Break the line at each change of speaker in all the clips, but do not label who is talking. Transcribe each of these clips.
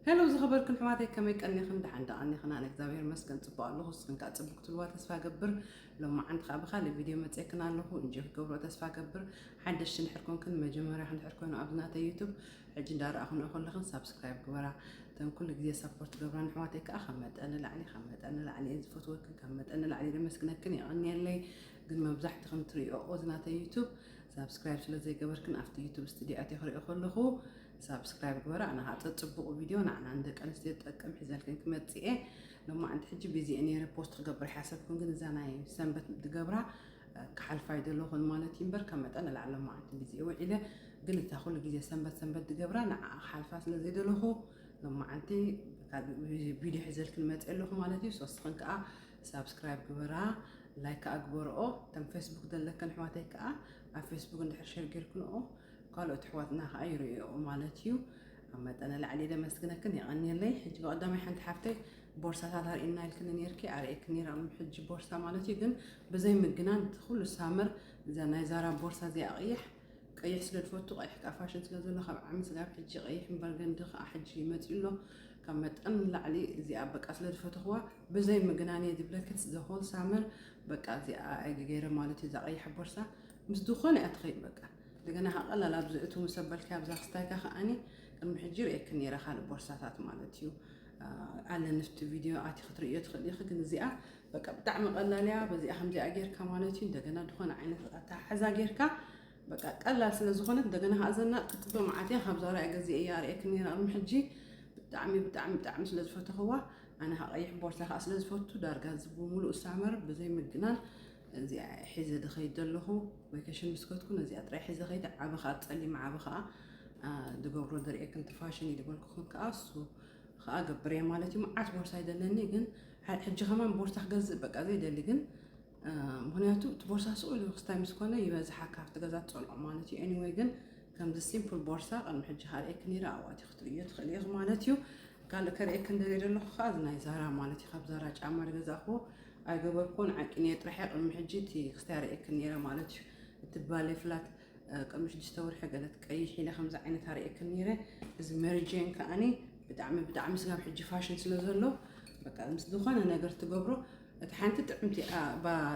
ሄሎ ዝኸበርክን ሕዋተይ ከመይ ቀኒኽን ደሓን ደቐኒኽን ኣነ እግዚኣብሔር መስገን ጽቡቅ ኣለኹ ንስኽን ከዓ ጽቡቅ ክትልዋ ተስፋ ገብር ሎማዓንቲ ከዓ ብካልእ ቪድዮ መጽክን ኣለኹ እንጆ ክገብሮ ተስፋ ገብር ሓደሽቲ ንድሕር ኮንክን መጀመርያ ንድሕር ኮይኑ ኣብዚ ናተይ ዩቱብ ሕጂ እንዳረኣኹንኦ ከለኽን ሳብስክራይብ ግበራ እተን ኩሉ ግዜ ሰፖርት ገብራ ንሕዋተይ ከዓ ካብ መጠን ንላዕሊ ካብ መጠን ንላዕሊ እየ ዝፈትወክን ካብ መጠን ንላዕሊ ደመስግነክን የቐንየለይ ግን መብዛሕትኽን ትሪኦ እዚ ናተይ ዩቱብ ሳብስክራይብ ስለ ዘይገበርክን ኣብቲ ዩቱብ ስትድዮ ኣትየ ክሪኦ ከለኹ ሳብስክራይብ ግበራ ኣነ ከዓ ፀፅቡቑ ቪድዮ ንዓና ንደቂ ኣንስትዮ ዝጠቅም ሒዘልክን ክመፅእ እየ ሎማዕንቲ ሕጂ ቢዚ ነይረ ፖስት ክገብር ሓሰብኩም ግን እዛ ናይ ሰንበት ትገብራ ክሓልፋ ይደለኹን ማለት እዩ እምበር ካብ መጠን ንላዕሊ ሎማዕንቲ ቢዚ ውዒለ ግን እታ ኩሉ ግዜ ሰንበት ሰንበት ትገብራ ንዓ ክሓልፋ ስለ ዘይደለኹ ሎማዕንቲ ቪድዮ ሒዘልክን መፅ ኣለኹ ማለት እዩ ሶስኽን ከዓ ሳብስክራይብ ግበራ ላይክ ከዓ ግበርኦ ከም ፌስቡክ ዘለክን ኣሕዋተይ ከዓ ኣብ ፌስቡክ እንድሕር ሸር ጌርክንኦ ካልኦት ኣሕዋትና ከኣ ይርእዮኦ ማለት እዩ። ካብ መጠነ ላዕሊ ኢለ ኣመስግነክን የቐንየለይ። ሕጂ ብቐዳማይ ሓንቲ ሓፍተይ ቦርሳታት ኣርእየና ኢልክኒ ኔርኪ ኣርእየክን ኔረ ኣብ ሕጂ ቦርሳ ማለት እዩ ግን ብዘይ ምግናን እቲ ኩሉ ሳመር እዛ ናይ ዛራ ቦርሳ እዚኣ ቀያሕ ቀይሕ ስለ ዝፈቱ ቀይሕ ከዓ ፋሽን ስለ ዘሎ ካብ ዓሚ ስጋብ ሕጂ ቀይሕን በርገንዲ ከዓ ሕጂ ይመፅኡ ኣሎ ካብ መጠን ንላዕሊ እዚኣ በቃ ስለ ዝፈተኽዋ ብዘይ ምግናን እየ ዝብለክት ዘሆል ሳመር በቃ እዚኣ ገይረ ማለት እዩ እዛ ቀያሕ ቦርሳ ምስ ዝኾነ እያ ትኸይድ በቃ እንደገና ከኣ ቀላል ኣብዚ እቱ ምስ ኣበልካዮ ኣብዛ ክስታይካ ከኣኒ ቅድሚ ሕጂ ርእየኪ ነይረ ካልእ ቦርሳታት ማለት እዩ ኣለ ንፍቲ ቪድዮ ኣቲ ክትርእዮ ትኽእል ኢኺ ግን እዚኣ በቃ ብጣዕሚ ቀላል እያ በዚኣ ከምዚኣ ጌርካ ማለት እዩ እንደገና ዝኾነ ዓይነት ኣተሓሕዛ ጌርካ በቃ ቀላል ስለ ዝኾነት እንደገና ከዓ ዘና ጥጥበ መዓት እያ ካብዛ ርያ ገዚ እያ ርእየክ ነራ ቅድሚ ሕጂ ብጣዕሚ ብጣዕሚ ብጣዕሚ ስለ ዝፈተኽዋ ኣነ ከዓ ቀይሕ ቦርሳ ከዓ ስለ ዝፈቱ ዳርጋ እዚ ብምሉእ ሳመር ብዘይ ምግናን እዚኣ እየ ሒዘ ድኸይድ ዘለኹ ቫኬሽን ምስ ከድኩ ነዚኣ ጥራይ ሒዘ ከይደ ዓበ ከዓ ፀሊም ዓበ ከዓ ድገብሮ ድርእየክን እቲ ፋሽን እዩ ድበልኩክን ከዓ እሱ ከዓ ገብር እየ ማለት እዩ መዓት ቦርሳ ይደለኒ ግን ሕጂ ከማን ቦርሳ ክገዝእ በቃ ዘይደሊ ግን ምክንያቱ እቲ ቦርሳ ስኡል ክስታይ ምስ ኮነ ይበዝሓ ካብቲ ገዛ ትፀልዖ ማለት እዩ ኤኒወይ ግን ከምዚ ሲምፕል ቦርሳ ቅድሚ ሕጂ ካልኤክ ነይረ ኣብኣቲ ክትርእዮ ትኽእል ኢኽ ማለት እዩ ካልእ ከርእየክ እንደልየ ዘለኹ ከዓ እዚ ናይ ዛራ ማለት እዩ ካብ ዛራ ጫማ ዝገዛእኽዎ ኣይገበርኩዎን ዓንቂኒ እየ ጥራሕ እየ ቅድሚ ሕጂ እቲ ክስታይ ኣርእየክን ነይረ ማለት እዩ እቲ ባሌ ፍላት ቅድሚ ሽዱሽተ ወርሒ ገለ ትቀይሕ ኢለ ከምዚ ዓይነት ኣርእየክን ነይረ እዚ መሪጄን ከዓኒ ብጣዕሚ ብጣዕሚ ስጋብ ሕጂ ፋሽን ስለ ዘሎ በቃ ምስ ዝኾነ ነገር ትገብሮ እቲ ሓንቲ ጥዕምቲ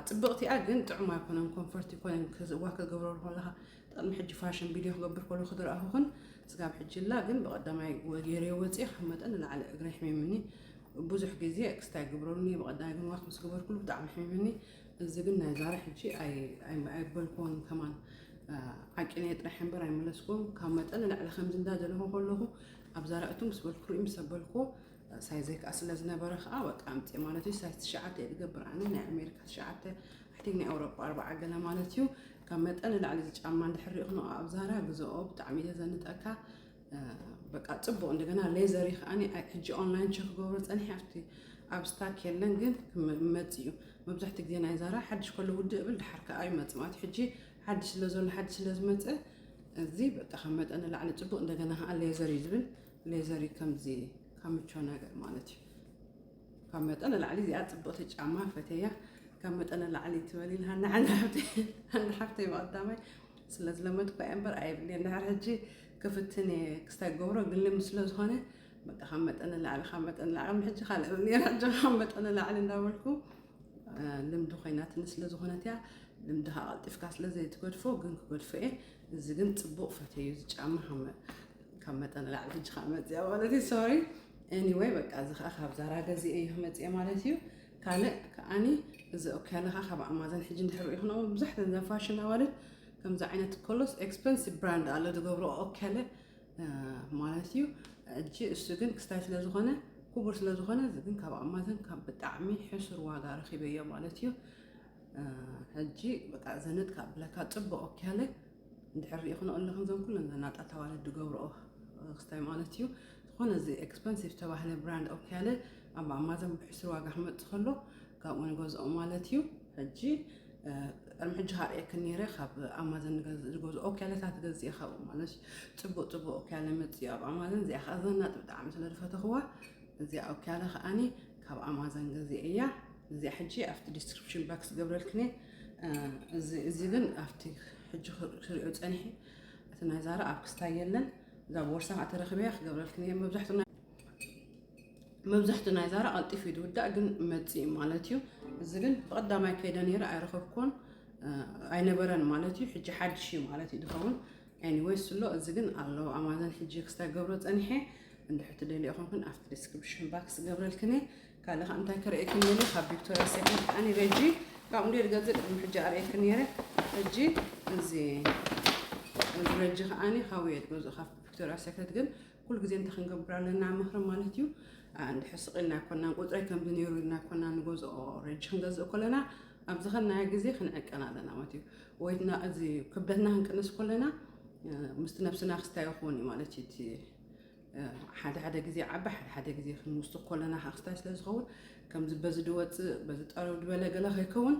ጽብቕቲ እያ ግን ጥዑም ኣይኮነን ኮንፈርት ይኮነን ዋ ከገብረሉ ከለካ ቅድሚ ሕጂ ፋሽን ቪድዮ ክገብር ከለኹ ዝረኣኹክን ስጋብ ሕጂ ላ ግን ብቐዳማይ ገይረዮ ወፂኤ ካብ መጠን ንላዕሊ እግረይ ሕሚምኒ ብዙሕ ግዜ ክስታይ ግብረሉኒ ብቐዳማይ ግን ዋክ ምስ ገበርኩሉ ብጣዕሚ ሕሚምኒ እዚ ግን ናይ ዛሬ ሕጂ ኣይበልክዎን ከማን ዓቂነየ ጥራሕ እምበር ኣይመለስክዎም ካብ መጠን ንላዕሊ ከምዚ እንዳ ዘለኹ ከለኹ ኣብ ዛራእቱ ምስ በልኩ ርእዩ ምስ ኣበልክዎ ሳይዘይ ከዓ ስለ ዝነበረ ከዓ በቃ ኣምፅእ ማለት እዩ ሳይዝ ትሽዓተ እየ ዝገብር ኣነ ናይ ኣሜሪካ ትሽዓተ ፊቲንግ ናይ ኤውሮጳ ኣርብዓ ገለ ማለት እዩ ካብ መጠን ንላዕሊ እዚ ጫማ እንድሕር ሪእኽኖ ኣብ ዛራ ግዘኦ ብጣዕሚ ዘዘንጠካ በቃ ፅቡቅ እንደገና ሌዘር ከዓኒ ሕጂ ኦንላይን ቸክ ገብሮ ፀኒሐ ኣብቲ ኣብ ስታክ የለን ግን ክመፅ እዩ መብዛሕትኡ ግዜ ናይ ዛራ ሓድሽ ከሎ ውድእ ብል ድሓር ከዓ ይመፅ ማለት ሕጂ ሓድሽ ስለ ዘሎ ሓድሽ ስለ ዝመፀ እዚ በቃ ካብ መጠን ንላዕሊ ፅቡቅ እንደገና ከዓ ሌዘር እዩ ዝብል ሌዘር እዩ ከምዚ ካብ ምቾ ነገር ማለት እዩ ካብ መጠን ንላዕሊ እዚኣ ፅብቕቲ ጫማ ፈተያ ካብ መጠን ንላዕሊ ትበል ኢልሃኒ ሓንቲ ሓፍተይ ሓንቲ ሓፍተይ ብቐዳማይ ስለ ዝለመድኩ እየ እምበር ኣይብልየ እንድሕር ሕጂ ክፍትን እየ ክስታይ ገብሮ ግን ልምዲ ስለ ዝኾነ በቃ ካብ መጠን ንላዕሊ ካብ መጠን ንላዕሊ ሕጂ ካልእ ኔራ ጆ ካብ መጠን ንላዕሊ እንዳበልኩ ልምዲ ኮይናትኒ ስለ ዝኾነት እያ ልምድኻ ቀልጢፍካ ስለ ዘይትገድፎ ግን ክገድፎ እየ እዚ ግን ፅቡቕ ፈተዩ እዚ ጫማ ካብ መጠን ንላዕሊ ሕጂ ከዓ መፅያ ማለት እዩ ሶሪ Anyway በቃ እዚ ከኣ ካብ ዛራ ገዚኤ እዩ ክመጽኤ ማለት እዩ ካልእ ከኣኒ እዚ ኦክያለኻ ካብ ኣማዘን ሕጂ እንድሕር ሪኢኹና መብዛሕተን እዘን ፋሽን ኣዋልድ ከምዚ ዓይነት ኮሎስ ኤክስፐንሲቭ ብራንድ ኣለ ዝገብሮ ኦክያለ ማለት እዩ እጂ እሱ ግን ክስታይ ስለ ዝኾነ ክቡር ስለ ዝኾነ እዚ ግን ካብ ኣማዘን ካብ ብጣዕሚ ሕሱር ዋጋ ረኺበዮ ማለት እዩ ሕጂ በቃ ዘንጥ ካብ ብለካ ፅቡቅ ኦክያለ እንድሕር ሪኢክንኦ ኣለክን እዞም ኩለን ዘናጣት ኣዋልድ ዝገብርኦ ክስታይ ማለት እዩ ዝኾነ እዚ ኤክስፐንሲቭ ዝተባህለ ብራንድ ኦክያለ ኣብ ኣማዞን ብሕሱር ዋጋ ክመፅእ ከሎ ካብኡ ንገዝኦ ማለት እዩ ሕጂ ቅድሚ ሕጂ ካብ ርኤክን ነይረ ካብ ኣማዘን ዝገዝኦ ኦክያለታት ገዝእ ካብኡ ማለት እዩ ፅቡቅ ፅቡቅ ኦክያለ መፅኡ ኣብ ኣማዘን እዚኣ ከዓ ዘናጥ ብጣዕሚ ስለ ዝፈተኽዋ እዚኣ ኣውኪያለ ከኣኒ ካብ ኣማዘን ገዜ እያ እዚኣ ሕጂ ኣብቲ ዲስክሪፕሽን ባክስ ገብረልክን እየ እዚ ግን ኣብቲ ሕጂ ክሪኦ ፀኒሐ እቲ ናይ ዛራ ኣብ ክስታይ የለን እዛ ቦርሳ ከዓ ተረክበያ ክገብረልክን እየ መብዛሕትኡ መብዛሕትኡ ናይ ዛራ ቀልጢፍ እዩ ዝውዳእ ግን መፅኢ ማለት እዩ እዚ ግን ብቀዳማይ ከይደ ነይረ ኣይረከብኩን ኣይነበረን ማለት እዩ ሕጂ ሓድሽ እዩ ማለት እዩ ዝኸውን Anyway ስሎ እዚ ግን ኣሎ ኣማዘን ሕጂ ክስታይ ገብሮ ጸኒሐ እንድሕር ትደልዮ ኮንክን ኣብቲ ዲስክሪፕሽን ባክስ ዝገብረልክን እየ ካልእ ከዓ እንታይ ከርእየክን ደልየ ካብ ቪክቶሪያ ሴክሬት ከዓኒ ረጂ ካብኡ እንዲ ዝገዝእ ቅድሚ ሕጂ ኣርእየክን ነይረ ሕጂ እዚ እዚ ረጂ ከዓኒ ካብኡ እየ ዝገዝኦ ካብ ቪክቶሪያ ሴክሬት ግን ኩሉ ግዜ እንታይ ክንገብር ኣለና ምኽሪ ማለት እዩ እንድሕር ስቕ ኢልና ኣይኮናን ቁፅረይ ከምዚ ነይሩ ኢልና ኣይኮና ንገዝኦ ረጂ ክንገዝእ ከለና ኣብ ዝኸናዮ ግዜ ክንዕቀን ኣለና ማለት እዩ ወይድና እዚ ክብደትና ክንቅንስ ኮለና ምስቲ ነብስና ክስታይ ይኸውን እዩ ማለት እዩ እቲ ሓደ ሓደ ግዜ ዓቢ ሓደ ሓደ ግዜ ክንውስኽ ኮለና ከዓ ክስታይ ስለ ዝኸውን ከምዚ በዚ ድወፅእ በዚ ጠረው ድበለ ገለ ከይከውን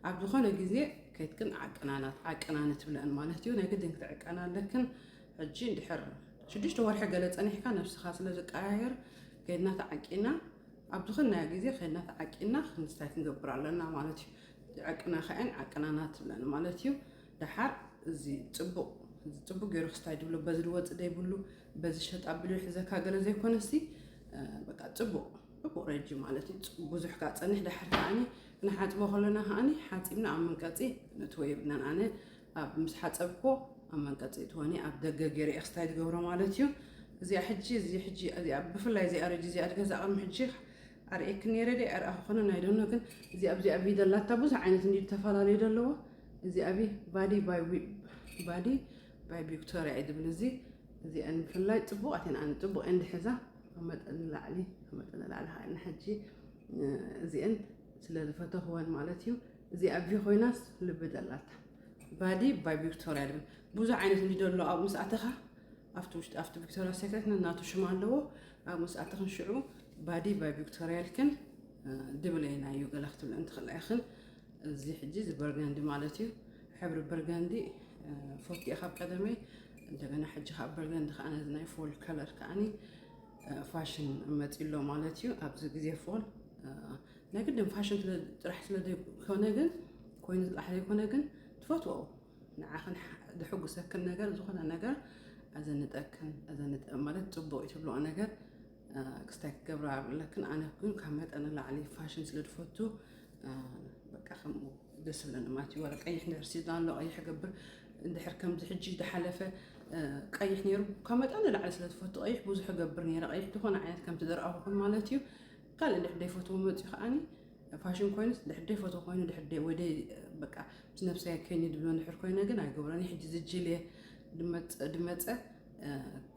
ኣብ ዝኾነ ግዜ ከይትክን ዓቀናናት ዓቀናነ ትብለአን ማለት እዩ ናይ ግድን ክትዕቀና ኣለክን ሕጂ እንድሕር ሽዱሽተ ወርሒ ገለ ፀኒሕካ ነብስኻ ስለ ዝቀያየር ከይድና ተዓቂና ኣብ ዝኾነ ግዜ ከይድና ተዓቂና ክንስታይ ክንገብር ኣለና ማለት እዩ ዕቅና ከዐን ዓቅና ናትብለን ማለት እዩ ደሓር እዚ ፅቡቕ ፅቡቅ ገይሩ ክስታይ ድብሎ በዚ ድወፅእ ዘይብሉ በዚ ሸጣ ብልዮ ሒዘካ ገለ ዘይኮነሲ በቃ ፅቡቅ ፅቡቅ ረጂ ማለት እዩ ብዙሕ ካ ፀንሕ ዳሕር ከዓኒ ክንሓፅቦ ከለና ከዓኒ ሓፂብና ኣብ መንቀፂ ነትወ የብልናን ኣነ ኣብ ምስ ሓፀብኮ ኣብ መንቀፂ ትወኒ ኣብ ደገ ገይረ ክስታይ ዝገብሮ ማለት እዩ እዚኣ ሕጂ እዚ ሕጂ እዚኣ ብፍላይ እዚኣ ረጂ እዚኣ ድገዛ ቅድሚ ሕጂ ኣርእየኪ ነይረ ድየ ኣይርኣኹክንን ኣይዶኖ ግን እዚኣ ኣብዚኣ ኣብ ቪድዮ ኣላታ ብዙሕ ዓይነት እንዲ ተፈላለዩ ዘለዎ እዚ ኣብ ባዲ ባዲ ባይ ቪክቶሪያ እዩ ዝብል እዚ እዚኣ ንምፍላይ ፅቡቃት እየን ኣነ ፅቡቅ እየን ድሕዛ ካብ መጠን ንላዕሊ ካብ መጠን ንላዕሊ ከዓ ንሕጂ እዚአን ስለ ዝፈተኽወን ማለት እዩ እዚ ኣቪ ኮይናስ ልቢ ደላታ ባዲ ባይ ቪክቶሪያ ድብል ብዙሕ ዓይነት እንዲ ደሎ ኣብኡ ምስ ኣተኻ ኣብቲ ውሽጢ ኣብቲ ቪክቶሪያ ሴክሬት ናቱ ሽም ኣለዎ ኣብ መስኣተኽን ሽዑ ባዲ ባይ ቪክቶርያልክን ድብለይና እዩ ገለ ክትብለ እንትኽእላ ኢኽን እዚ ሕጂ እዚ በርጋንዲ ማለት እዩ ሕብሪ በርጋንዲ ፎትየ ካብ ቀደመይ እንደገና ሕጂ ካብ በርጋንዲ ከዓ ነዚ ናይ ፎል ከለር ከዓኒ ፋሽን መፂሎ ማለት እዩ ኣብዚ ግዜ ፎል ናይ ግድን ፋሽን ጥራሕ ስለዘይኮነ ግን ኮይኑ ጥራሕ ዘይኮነ ግን ትፈትዎ ንዓኽን ዘሕጉሰክን ነገር ዝኾነ ነገር ኣዘንጠክን ኣዘንጠ ማለት ፅቡቅ ትብልኦ ነገር ክስታይ ክገብራ ኣለክን ኣነ ግን ካብ መጠን ንላዕሊ ፋሽን ስለ ዝፈቱ በቃ ከምኡ ደስ ዝብለኒ ማለት እዩ ወረ ቀይሕ ነገር ሲዝና ኣሎ ቀይሕ ገብር እንድሕር ከምዚ ሕጂ ዝሓለፈ ቀይሕ ነይሩ ካብ መጠን ንላዕሊ ስለ ዝፈቱ ቀይሕ ብዙሕ ገብር ነይረ ቀይሕ ዝኾነ ዓይነት ከምቲ ዝረኣኹኹን ማለት እዩ ካልእ እንድሕር ዘይፈትዎ መፅኡ ከዓኒ ፋሽን ኮይኑስ ድሕር ደይ ፎቶ ኮይኑ ድሕር ደይ ወይ ደይ በቃ ምስ ነብሰይ ከይኒ ድብሎ ድሕር ኮይነ ግን ኣይገብሮን ሕጂ ዝጅልየ ድመፀ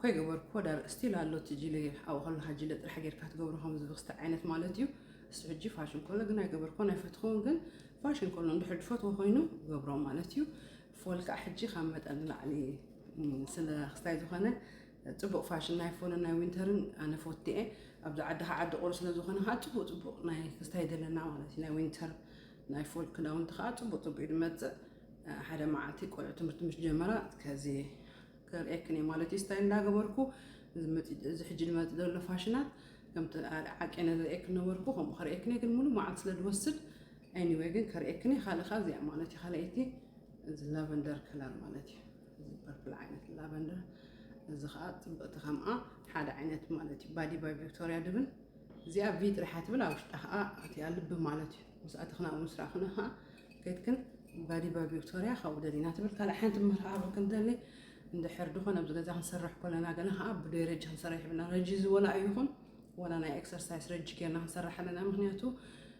ከይገበርኩዎ ዳር ስቲል ኣሎ እቲ ጅልየ ኣብኡ ከለካ ጅልየ ጥራሕ ጌርካ ትገብሮ ከም ዝብክስቲ ዓይነት ማለት እዩ እሱ ሕጂ ፋሽን ከሎ ግን ኣይገበርኩዎን ኣይፈትኹን ግን ፋሽን ከሎ ድሕር ድፈትዎ ኮይኑ ገብሮ ማለት እዩ ፎል ከዓ ሕጂ ካብ መጠን ንላዕሊ ስለ ክስታይ ዝኾነ ጽቡቅ ፋሽን ናይ ፎልን ናይ ዊንተርን ኣነ ፎቲ እየ ኣብዚ ዓዲ ከዓ ዓዲ ቁሪ ስለዝኾነ ከዓ ጽቡቅ ጽቡቅ ናይ ክስታይ ዘለና ማለት እዩ ናይ ዊንተር ናይ ፎል ክዳውንቲ ከዓ ጽቡቅ ጽቡቅ እዩ ዝመጽእ ሓደ መዓልቲ ቆልዑ ትምህርቲ ምስ ጀመራ ከዚ ከርእየክን እየ ማለት እዩ ስታይ እንዳገበርኩ እዚ ሕጂ ዝመፅ ዘሎ ፋሽናት ከምቲ ዓቂነ ዝርእየክን ነበርኩ ከምኡ ከርእየክን እየ ግን ሙሉእ መዓልቲ ስለ ዝወስድ ኤኒወይ ግን ከርእየክን እየ ካልእ ከዓ እዚኣ ማለት እዩ ካልኣይቲ እዚ ላቨንደር ከለር ማለት እዩ እዚ ፐርፕል ዓይነት ላቨንደር እዚ ከዓ ፅብቅቲ ከምኣ ሓደ ዓይነት ማለት እዩ ባዲ ባይ ቪክቶሪያ ድብል እዚኣ ቪ ጥሪሓ ትብል ኣብ ውሽጣ ከዓ እቲኣ ልቢ ማለት እዩ ምስ ኣትኽና እውን ስራ ክነ ከዓ ከይትክን ባዲ ባይ ቪክቶሪያ ካብኡ ደሊና ትብል ካልእ ሓንቲ መርሃባ ክንደሊ እንድሕር ድኾነ ኣብዚ ገዛ ክንሰርሕ ኮለና ገና ከዓ ብደይ ረጂ ክንሰርሕ ይብልና ረጂ ዝወላ ኣይኹን ወላ ናይ ኤክሰርሳይስ ረጂ ጌርና ክንሰርሕ ኣለና ምክንያቱ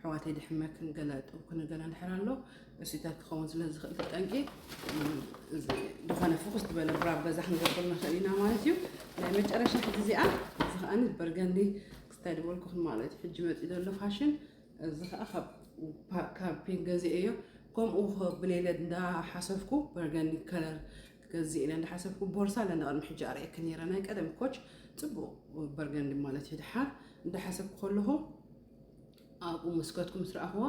ኣሕዋተይ ድሕመክን ገለ እጥብክን ገለ እንድሕር ኣሎ እሱታት ክኸውን ስለ ዝኽእል ተጠንቂ ዝኾነ ፍኹስ ዝበለ ብራብ በዛ ክንገብር ንኽእል ኢና ማለት እዩ ናይ መጨረሻ ሕዚ እዚኣ እዚ ከዓኒ በርገንዲ ክስታይ ድበልኩኽን ማለት እዩ ሕጂ መፂ ዘሎ ፋሽን እዚ ከዓ ካብ ፒንክ ገዚአ እዮ ከምኡ ብሌለ እንዳሓሰብኩ በርገንዲ ከለር ገዚእ ኢለ እንዳሓሰብኩ ቦርሳ ለና ቅድሚ ሕጂ ኣርእየክ ነይረ ናይ ቀደም ኮች ፅቡቅ በርገንዲ ማለት እዩ ድሓር እንዳሓሰብኩ ከለኹ ኣብኡ መስከትኩ ምስ ረኣኽዋ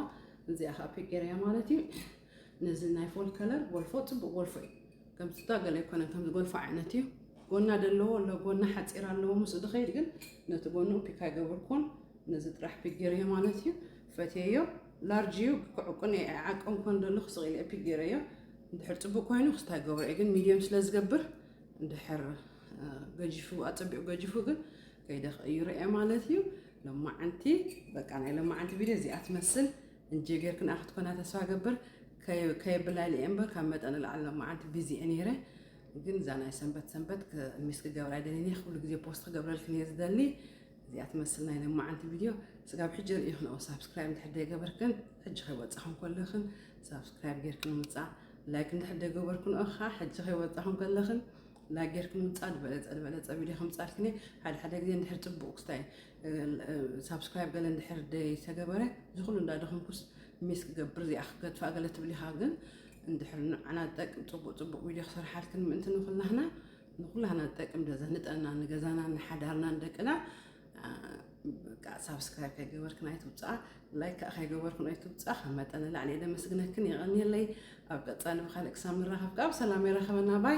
እዚኣ ከዓ ፒቄር እያ ማለት እዩ ነዚ ናይ ፎል ከለር ጎልፎ ፅቡቅ ጎልፎ እዩ ከምስታ ገለ ኣይኮነን ከም ዝጎልፎ ዓይነት እዩ ጎና ደለዎ ኣሎ ጎና ሓፂር ኣለዎ ምስ ድኸይድ ግን ነቲ ጎኑ ፒክ ኣይገብርኩን ነዚ ጥራሕ ፒክ ገይረዮ ማለት እዩ ፈትየዮ ላርጅ እዩ ክዕቁን ዓቀም ኮን ደለኹ ስቂለ ፒክ ገይረዮ እንድሕር ፅቡቅ ኮይኑ ክስታ ይገብሮ እየ ግን ሚድየም ስለ ዝገብር እንድሕር ገጂፉ ኣፀቢቑ ገጂፉ ግን ከይደ ክእዩ ርኤ ማለት እዩ ሎማዓንቲ በቃ ናይ ሎማዓንቲ ቪድዮ እዚኣ ትመስል እንጂ ጌርክን ኣክትኮና ተስፋ ገብር ከየብላሊ እየ እምበር ካብ መጠን ንላዕሊ ሎማዓንቲ ቢዚ እየ ነይረ ግን እዛ ናይ ሰንበት ሰንበት ሚስ ክገብራ ይደሊ እየ ኩሉ ግዜ ፖስት ክገብረልክን እየ ዝደሊ እዚኣ ትመስል ናይ ሎማዓንቲ ቪድዮ ስጋብ ሕጂ ርእይክን ኦ ሳብስክራይብ እንድሕር ዘይገበርክን ሕጂ ከይወፃኹም ከለኽን ሳብስክራይብ ጌርክን ምፃእ ላይክ እንድሕር ዘይገበርክን ኦ ከዓ ሕጂ ከይወፃኹም ከለኽን ላይክ ጌርኩም ምፃድ በለፀ በለፀ ቪድዮ ከምፃልክኒ ሓደ ሓደ ግዜ እንድሕር ፅቡቅ ክስታይ ሳብስክራይብ ገለ እንድሕር ዘይተገበረ ዝኩሉ እንዳደኹምኩስ ሚስ ክገብር እዚኣ ክገድፋ ገለ ትብል ኢኻ ግን እንድሕር ንዓና ዝጠቅም ፅቡቅ ፅቡቅ ቪድዮ ክሰርሓልክን ምእንቲ ንኩላህና ንኩላህና ዝጠቅም ደዘ ንጠና ንገዛና ንሓዳርና ንደቅና በቃ ሳብስክራይብ ከይገበርክን ኣይትውፃእ ላይክ ከዓ ከይገበርክን ኣይትውፃእ ካብ መጠን ንላዕሊ እየ ደመስግነክን የቀንየለይ ኣብ ቀፃሊ ብካልእ ክሳብ ንራኸብ ከዓ ብሰላም የራኸበና ባይ